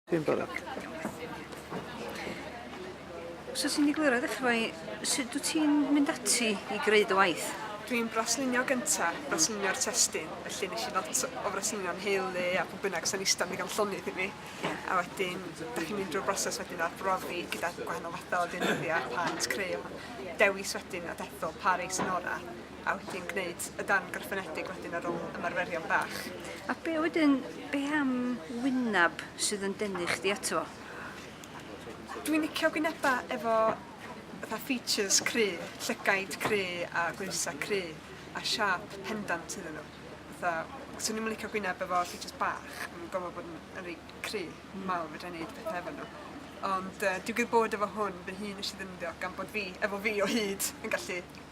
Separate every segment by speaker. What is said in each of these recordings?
Speaker 1: Dwi'n barod.
Speaker 2: Os ti'n digwydd roedd efo i, sut dwi ti'n mynd ati i greu dy waith? Dwi'n braslunio
Speaker 3: gynta, braslunio'r testyn, felly nes i lot o fraslunio'n heulu a pwy bynnag sy'n eistedd ddigon llonydd i mi. A wedyn, da chi'n mynd drwy'r broses wedyn ar brofi gyda gwahanol fathau o ddeunyddiau, plant, creu, dewis wedyn a dethol, pa rei sy'n orau. A wyt ti'n gwneud y darn gwrthfynedig wedyn ar ôl ymarferion bach? A be wedyn,
Speaker 2: be am wynab sydd yn denu chdi ato fo?
Speaker 3: Dwi'n licio gwynebau efo fatha features cry, llygaid cry a gwynsa cry a siap pendant iddyn nhw. Fatha, swn i'n licio gwyneb efo features bach, yn gofod bod yn, yn reit cry, mm. mawr, fedra i wneud pethau efo nhw. Ond uh, digwydd bod efo hwn, fy hun nes i ddefnyddio gan bod fi, efo fi o hyd, yn gallu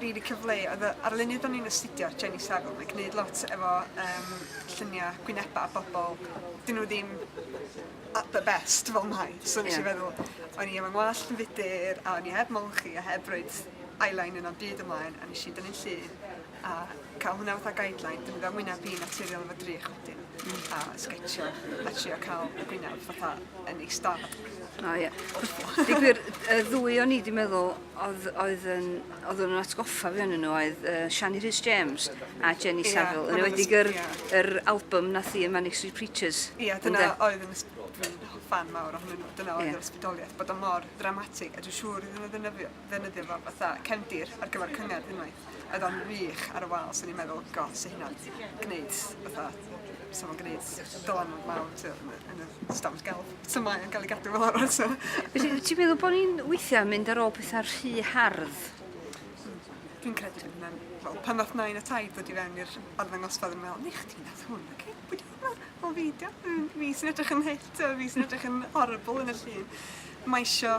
Speaker 3: rili cyfle i oedd y arlunydd o'n i'n astudio Jenny Saville mae'n gwneud lot efo um, lluniau gwynebau a bobl dyn nhw ddim at the best fel mai so nes yeah. i feddwl o'n i efo ngwallt yn fudur a o'n i heb molchi a heb roed eyeliner yna byd ymlaen a nes i dynnu'n llun a cael hwnna fatha guideline dyn nhw'n wyneb i naturiol efo drych wedyn mm. a sgetio a trio cael y gwyneb fatha yn ei stad. O ie.
Speaker 2: Digwyr, y ddwy o'n i wedi meddwl Oedd, oedd yn, oedd nhw'n atgoffa fi o'n nhw oedd uh, Shani Rhys James a Jenny yeah, Saville. Yn ewedig yr, yeah. yr album na thi y Manic Street Preachers. Ie, yeah, dyna oedd
Speaker 3: yn ysbrydol fan mawr ohonyn nhw. Dyna oedd yeah. yr ysbrydoliaeth, bod o'n mor dramatig. A dwi'n siŵr iddyn nhw ddynyddio, ddynyddio fo fatha cefndir ar gyfer cyngerdd unwaith. Oedd o'n wych ar y wal, so ni'n meddwl, god, sy'n hynna'n gwneud fatha So ma'n gneud dylanwad mawr t'o' yn y yn y stafell gelf. So mae yn ga'l 'i gadw fel arall so. Felly wyt ti'n meddwl bo'
Speaker 2: ni'n weithia' yn mynd ar ôl petha rhy hardd?
Speaker 3: Dwi'n credu bydd hwnna'n... Wel pan ddath nain a taid ddod i fewn i'r arddangosfa o'n i'n me'wl ne' chdi nath hwn oce pwy 'di hwnna? O fi 'di o. Hmm fi sy'n edrych yn hyll t'o' fi sy'n edrych yn horrible yn y llun. Mae isio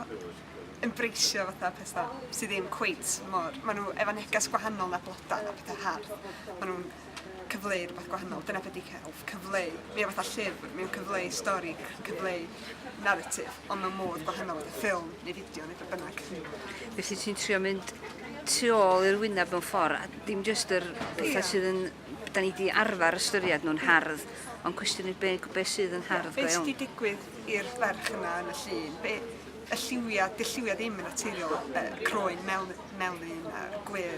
Speaker 3: ymbraceio fatha petha sy ddim cweit mor ma' n'w efo neges gwahanol na bloda na petha hardd ma' nw'n cyfleu rhywbeth gwahanol dyna be 'di celf, cyfleu. Mae o fatha llyfr, mae o'n cyfleu stori, cyfleu naratif, ond mewn modd gwahanol fatha ffilm neu fideo neu beth bynnag. Felly ti'n trio
Speaker 2: mynd tu ôl i'r wyneb mewn ffordd, a dim jyst yr pethau yeah. sydd yn... Da ni wedi arfer ystyried nhw'n hardd, ond cwestiwn i be, be sydd yn hardd go iawn. Be sydd wedi digwydd
Speaker 3: i'r ferch yna yn y llun? Be, y lliwiau, dy lliwiau ddim yn naturiol, y croen mewn, mewn un a'r gwir.